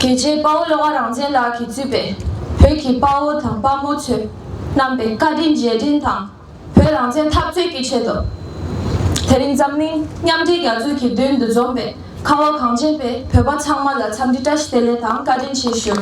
དེ་རྗེས་དཔའ་བོ་བློ་དགའ་རང་བཙན་ལགས་ཀྱིས་གཙོས་པའི་བོད་ཀྱི་དཔའ་བོ་དང་དཔའ་མོ་ཚོས་རྣམ་པའི་བཀའ་དྲིན་རྗེས་དྲན་དང་བོད་རང་བཙན་འཐབ་རྩོད་ཀྱི་ཆེད་དུ། དེ་རིང་འཛམ་གླིང་མཉམ་འབྲེལ་རྒྱ་མཚོ་གི་མདུན་དུ་འཛོམས་པའི་ཁ་བ་གངས་ཅན་པའི་བོད་པ་ཚང་མ་ལ་འཚམས་འདྲི་བཀྲ་ཤིས་བདེ་ལེགས་དང་བཀའ་དྲིན་ཆེ་ཞུ།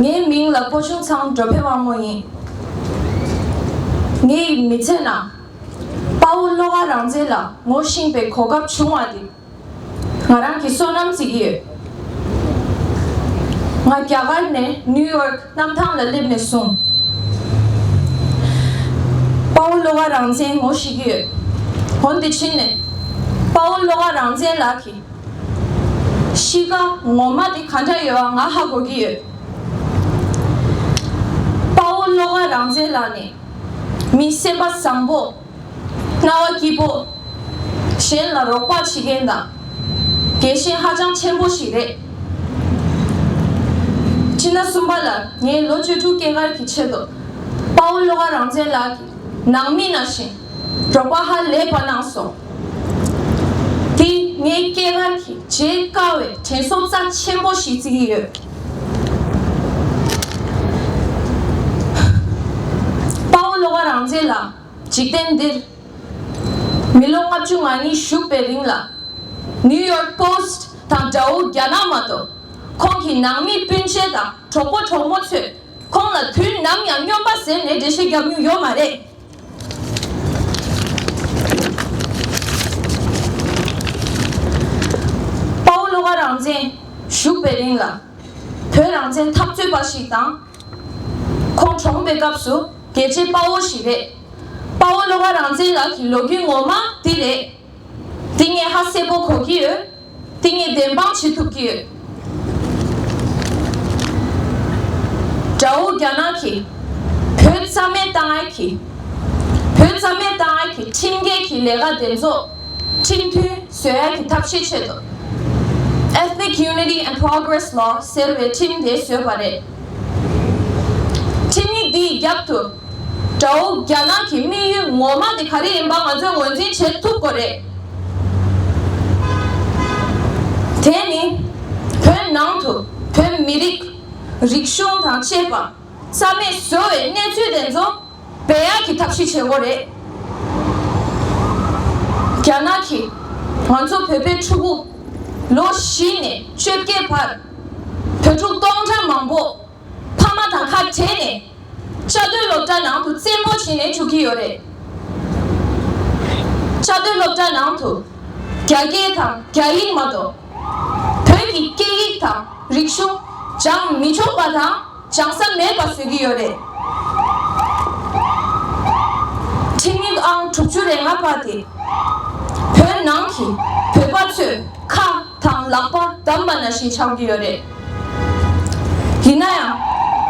ངའི་མིང་ལ་པོ་ཆུང་ཚང་འགྲོ་ཕེ་དབང་མོ་ཡིན། ངའི་མི་ཚེ་ནང་དཔའ་བོ་བློ་དགའ་རང་བཙན་ལ་ངོ་བཞེངས་པའི་གོ་སྐབས་བྱུང་བ་འདི། ང་རང་གིས་བསོད་ནམས་བརྩི་གི་ཡོད། ང་རྒྱ་གར་ནས་ནིའུ་ཡོག་གནམ་ཐང་ལ་སླེབས་ནས་བཟུང། དཔའ་བོ་བློ་དགའ་རང་བཙན་ངོ་ཤེས་ཀྱི་ཡོད། འོན་ཏེ་ཕྱིན་ནས་དཔའ་བོ་བློ་དགའ་རང་བཙན་ལགས་ཀྱི་གཤིས་ཀ་ངོ་མ་དེ་ག་འདྲ་ཡོད་ཨང་ང་ཧ་གོ་གི་ཡོད། དཔའ་བོ་བློ་དགའ་རང་བཙན་ལགས་ནི། མི་སེམས་པ་བཟང་པོ། རྣ་བ་སྐྱིད་པོ། གཞན་ལ་རོགས་པ་བྱེད་མཁན་དང། དགེ་ཞེན་ཧ་ཅང་ཆེན་པོ་ཞིག་རེད། སྤྱིར་ན་གསུམ་པ་ལ་ངས་ལོ་བཅུ་དྲུག་སྐྱེས་སྐར་གྱི་ཆེད་དུ། དཔའ་བོ་བློ་དགའ་རང་བཙན་ལགས་ཀྱི་ནང་མི་ན་བཞིན་རོགས་པ་ཧ་ལས་པ་གནང་སོང། དེ་ངའི་སྐྱེས་སྐར་གྱི་བརྗེད་དཀའ་བའི་དྲན་གསོ་རྩ་ཆེན་པོ་ཞིག་བརྩི་གི་ཡོད། དཔའ་བོ་བློ་དགའ་རང་བཙན་ལགས་འཇིག་རྟེན་འདིར་མི་ལོ་ལྔ་བཅུ་ང་གཉིས་བཞུགས་པའི་རིང་ལ New York Post དང་དགྲ་བོ་རྒྱ་ནག་མ་གཏོགས་ཁོང་གི་ནང་མི་སྤུན་མཆེད་དང་གྲོགས་པོ་གྲོགས་མོ་ཚོས་ཁོང་ལ་དུས་ནམ་ཡང་སྨྱོན་པ་ཟེར་ནས་འགྲེལ་བཤད་བརྒྱབ་མྱོང་ཡོད་མ་རེད། དཔའ་བོ་བློ་ཁ་རང་བཙན་བཞུགས་པའི་རིང་ལ། བོད་རང་བཙན་འཐབ་རྩོད་པ་ཞིག་དང། ཁོང་གྲོངས་པའི་སྐབས་སུ་རྒྱལ་གཅེས་དཔའ་བོ་ཞིག་རེད། དཔའ་བོ་བློ་ཁ་རང་བཙན་ལགས་ཀྱི་ལོ་རྒྱུས་ངོ་མ་འདི་རེད། དེ་ངས་ཧ་གསལ་པོ་གོ་གི་ཡོད། དེ་ངས་བདེན་དཔང་བྱེད་ཐུབ་ཀྱི་ཡོད། དགྲ་བོ་རྒྱ་ནག་གིས་བོད་རྩ་མེད་བཏང་ཨེ་གི། བོད་རྩ་མེད་བཏང་ཨེ་གི་ཁྲིམས་འགལ་གྱི་ལས་ཀ་དེ་ཚོ་ཁྲིམས་མཐུན་བཟོས་ཨེ་གི་ཐབས་ཤེས་ཆེད་དུ Ethnic Unity and Progress Law ཟེར་བའི་ཁྲིམས་དེ་བཟོས་པ་རེད། ཁྲིམས་ཡིག་འདིའི་རྒྱབ་ཏུ། དགྲ་བོ་རྒྱ་ནག་གི་དམིགས་ཡུལ་ངོ་མ་དེ་ག་རེ་ཡིན་པ་ང་ཚོས་ངོས་འཛིན་བྱེད་ཐུབ་དགོས་རེད། དེ་ནི། བོད་ནང་དུ་བོད་མི་རིགས། རིག་གཞུང་དང་བཅས་པ་རྩ་མེད་བཟོ་བའི་གནས་ཚུལ་དེ་ཚོ་བེད་ཡག་གི་ཐབས་ཤེས་བྱེད་དགོས་རེད། རྒྱ་ནག་གིས་ང་ཚོ་བོད་པའི་ཕྲུ་གུ་ལོ་བཞི་ནས་བཅོ་བརྒྱད་བར། བུ་ཕྲུག་སྟོང་ཕྲག་མང་པོ་ཕ་མ་དང་ཁ་བྲལ་ནས་བཅའ་སྡོད་སློབ་གྲྭ་ནང་དུ་བཙན་པོ་བྱས་ནས་བཅུག་གི་ཡོད་རེད། བཅའ་སྡོད་སློབ་གྲྭ་ནང་དུ་རྒྱ་སྐད་དང་རྒྱ་ཡིག་མ་གཏོགས་བོད་ཀྱི་སྐད་ཡིག་དང་རིག་གཞུང་སྦྱངས་མི་ཆོག་པ་དང་སྦྱངས་ས་མེད་པ་བཟོས་ཀྱི་ཡོད་རེད། ཁྲིམས་ཡིག་ཨང་དྲུག་ཅུ་རེ་ལྔ་པ་དེ་བོད་ནང་གི་བོད་པ་ཚོས་ཁ་དང་ལག་པ་བསྡམས་པ་ན་བཞིན་ཆགས་རྒྱུ་ཡོད་རེད། ཡིན་ན་ཡང།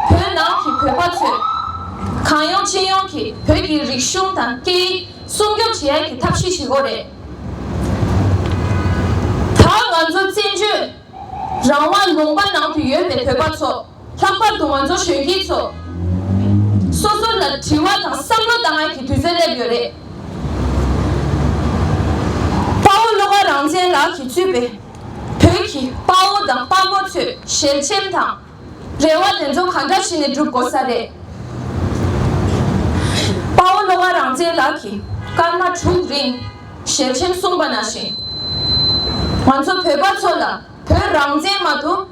བོད་ནང་གི་བོད་པ་ཚོས། གང་ཡོང་ཅི་ཡོང་གིས་བོད་ཀྱི་རིག་གཞུང་དང་སྐད་ཡིག་སྲུང་སྐྱོབ་བྱེད་ཡ་གི་ཐབས་ཤེས་ཤིག་འོ་རེད། ད་ང་ཚོ་བཙན་བྱོལ་རང་དབང་ལུང་པ་ནང་དུ་ཡོད་པའི་བོད་པ་ཚོ། ལྷག་པར་དུ་ང་ཚོ་གཞོན་སྐྱེས་ཚོ། སོ་སོར་ལ་དྲི་བ་དང་བསམ་བློ་བཏང་ཡག་གི་དུས་ཚོད་སླེབས་ཡོད་རེད། དཔའ་བོ་བློ་དགའ་རང་བཙན་ལགས་ཀྱིས་གཙོས་པའི་བོད་ཀྱི་དཔའ་བོ་དང་དཔའ་མོ་ཚོས་ཞལ་ཆེམས་དང། རེ་བ་དེ་ཚོ་ག་འདྲ་བྱས་ནས་འགྲུབ་དགོས་ས་རེད། དཔའ་བོ་བློ་དགའ་རང་བཙན་ལགས་ཀྱིས་སྐར་མ་དྲུག་རིང་ཞལ་ཆེམས་གསུངས་པ་ནང་བཞིན། ང་ཚོ་བོད་པ་ཚོ་ལ་བོད་རང་བཙན་མ་གཏོགས།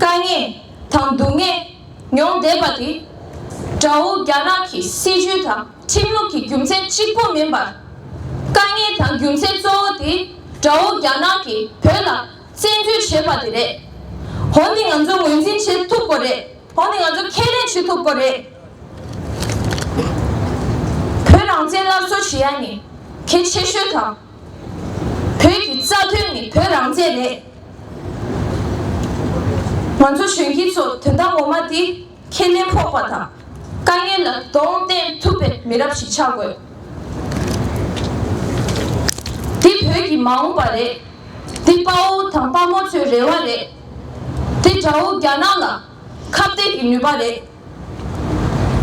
དཀའ་ངལ་དང་སྡུག་བསྔལ་མྱོང་བསྡད་པ་དེ་དགྲ་བོ་རྒྱ་ནག་གི་སྲིད་ཇུས་དང་ཁྲིམས་ལུགས་ཀྱི་རྒྱུ་མཚན་གཅིག་པོ་མིན་པར། དཀའ་ངལ་དང་རྒྱུ་མཚན་གཙོ་བོ་དེ་དགྲ་བོ་རྒྱ་ནག་གིས་བོད་ལ་བཙན་འཛུལ་བྱས་པ་དེ་རེད། འོ་འདི་ང་ཚོ་ངོས་འཛིན་བྱེད་ཐུབ་དགོས་རེད། འོ་འདི་ང་ཚོ་ཁས་ལེན་བྱེད་ཐུབ་དགོས་རེད། བོད་རང་བཙན་སླར་གསོ་བྱེད་ཡ་ནི་གལ་ཆེ་ཤོས་དང། བོད་ཀྱི་རྩ་དོན་ནི་བོད་རང་བཙན་རེད། ང་ཚོ་གཞོན་སྐྱེས་ཚོ་དོན་དག་ངོ་མ་དེ་ཁས་ལེན་ཕོག་པ་དང་དཀའ་ངལ་ལ་གདོང་བསྟན་ཐུབ་པའི་མི་རབས་ཤིག་ཆགས་དགོས། འདི་བོད་ཀྱི་མ་འོངས་པ་རེད། འདི་དཔའ་བོ་དང་དཔའ་མོ་ཚོའི་རེ་བ་རེད། འདི་དགྲ་བོ་རྒྱ་ནག་ལ་ཁ་གཏད་ཀྱི་ནུས་པ་རེད།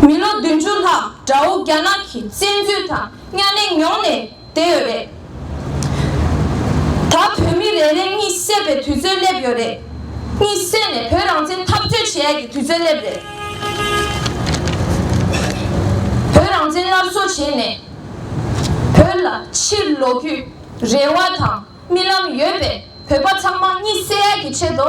མི་ལོ་བདུན་ཅུ་ལྷག་དགྲ་བོ་རྒྱ་ནག་གིས་བཙན་འཛུལ་དང་གཉའ་གནོན་མྱོང་ནས། བསྡད་ཡོད་རེད། ད་བོད་མི་རེ་རེ་གཉིད་སད་པའི་དུས་ཚོད་སླེབས་ཡོད་རེད། གཉིད་སད་ནས་བོད་རང་བཙན་འཐབ་རྩོད་བྱེད་ཡས་ཀྱི་དུས་ཚོད་སླེབས་རེད། བོད་རང་བཙན་སླར་གསོ་བྱེད་ནས་བོད་ལ་ཕྱིར་ལོག་རྒྱུའི་རེ་བ་དང་རྨི་ལམ་ཡོད་པའི་བོད་པ་ཚང་མ་གཉིད་སད་ཡས་ཀྱི་ཆེད་དུ་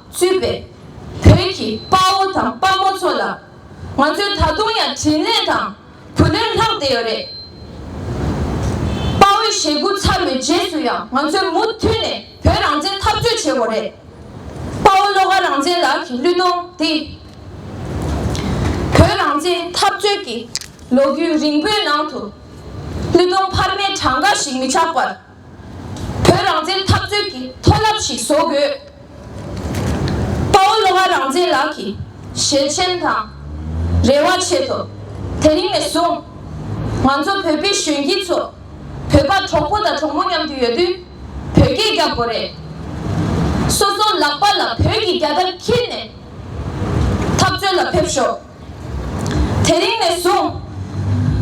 ཚུད་པས། བོད་ཀྱི་དཔའ་བོ་དང་དཔའ་མོ་ཚོ་ལ། ང་ཚོས་ད་དུང་ཡང་དྲིན་ལན་དང་བུ་ལོན་ལྷག་བསྡད་ཡོད་རེད། དཔའ་བོའི་ཞེ་དགུ་ཚར་བའི་རྗེས་སུ་ཡང་ང་ཚོས་མུ་མཐུད་ནས་བོད་རང་བཙན་འཐབ་རྩོད་བྱེད་དགོས་རེད། དཔའ་བོ་བློ་དགའ་རང་བཙན་ལགས་ཀྱི་གླུད་གཏོང་འདི། བོད་རང་བཙན་འཐབ་རྩོད་ཀྱི་ལོ་རྒྱུས་རིང་པོའི་ནང་དུ། གླུད་གཏོང་འཕར་མའི་གྲངས་ཀ་ཞིག་མི་ཆགས་པར། བོད་རང་བཙན་འཐབ་རྩོད་ཀྱི་མཐོ་རླབས་ཤིག་བཟོ་དགོས། དཔའ་བོ་ལོ་ང་རང་བཙན་ལགས་ཀྱི་ཞལ་མཆན་དང། རེ་བ་ཆེད་དོ། དེ་རིང་ནས་བཟུང། ང་ཚོ་བོད་པའི་གཞོན་སྐྱེས་ཚོ། བོད་པ་གྲོགས་པོ་དང་གྲོགས་མོ་མཉམ་དུ་ཡོད་དུས། བོད་སྐད་རྒྱག་དགོས་རེད། སོ་སོ་ལག་པ་ལ་བོད་ཀྱི་རྒྱ་དར་འཁྱེར་ནས། འཐབ་རྩོད་ལ་ཕེབས་ཤོག། དེ་རིང་ནས་བཟུང།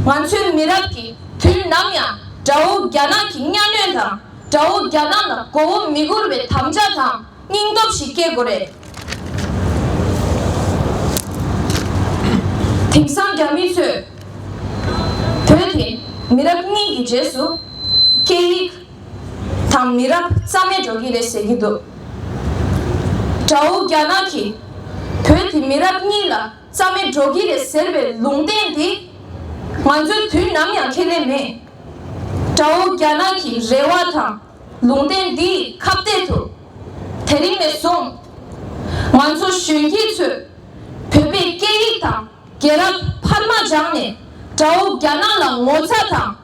ང་ཚོའི་མི་རབས་ཀྱིས་དུས་ནམ་ཡང་དགྲ་བོ་རྒྱ་ནག་གི་གཉའ་གནོན་དང་དགྲ་བོ་རྒྱ་ནག་ལ་མགོ་བོ་མི་སྒུར་བའི་དམ་བཅའ་དང་སྙིང་སྟོབས་ཤིག་སྐྱེ་དགོས་རེད། དེང་སང་རྒྱ་མི་ཚོས་བོད་དེ་མི་རབས་གཉིས་ཀྱི་རྗེས་སུ་སྐད་ཡིག། དང་མི་རབས་རྩ་མེད་འགྲོ་གི་རེད་ཟེར་གྱི་འདུག་དགྲ་བོ་རྒྱ་ནག་གིས་བོད་ཀྱི་མི་རབས་གཉིས་ལ་རྩ་མེད་འགྲོ་གི་རེད་ཟེར་བའི་ལུང་བསྟན་དེ་ང་ཚོས་དུས་ནམ་ཡང་ཁས་ལེན་མེད། དགྲ་བོ་རྒྱ་ནག་གི་རེ་བ་དང་ལུང་བསྟན་འདིས་ཁ་གཏད་དུ། དེ་རིང་ནས་བཟུང་ང་ཚོ་གཞོན་སྐྱེས་ཚོས་བོད་པའི་སྐད་ཡིག་དང་རྒྱལ་རབས་ཕར་མ་སྦྱངས་ནས་དགྲ་བོ་རྒྱ་ནག་ལ་ངོ་ཚ་དང།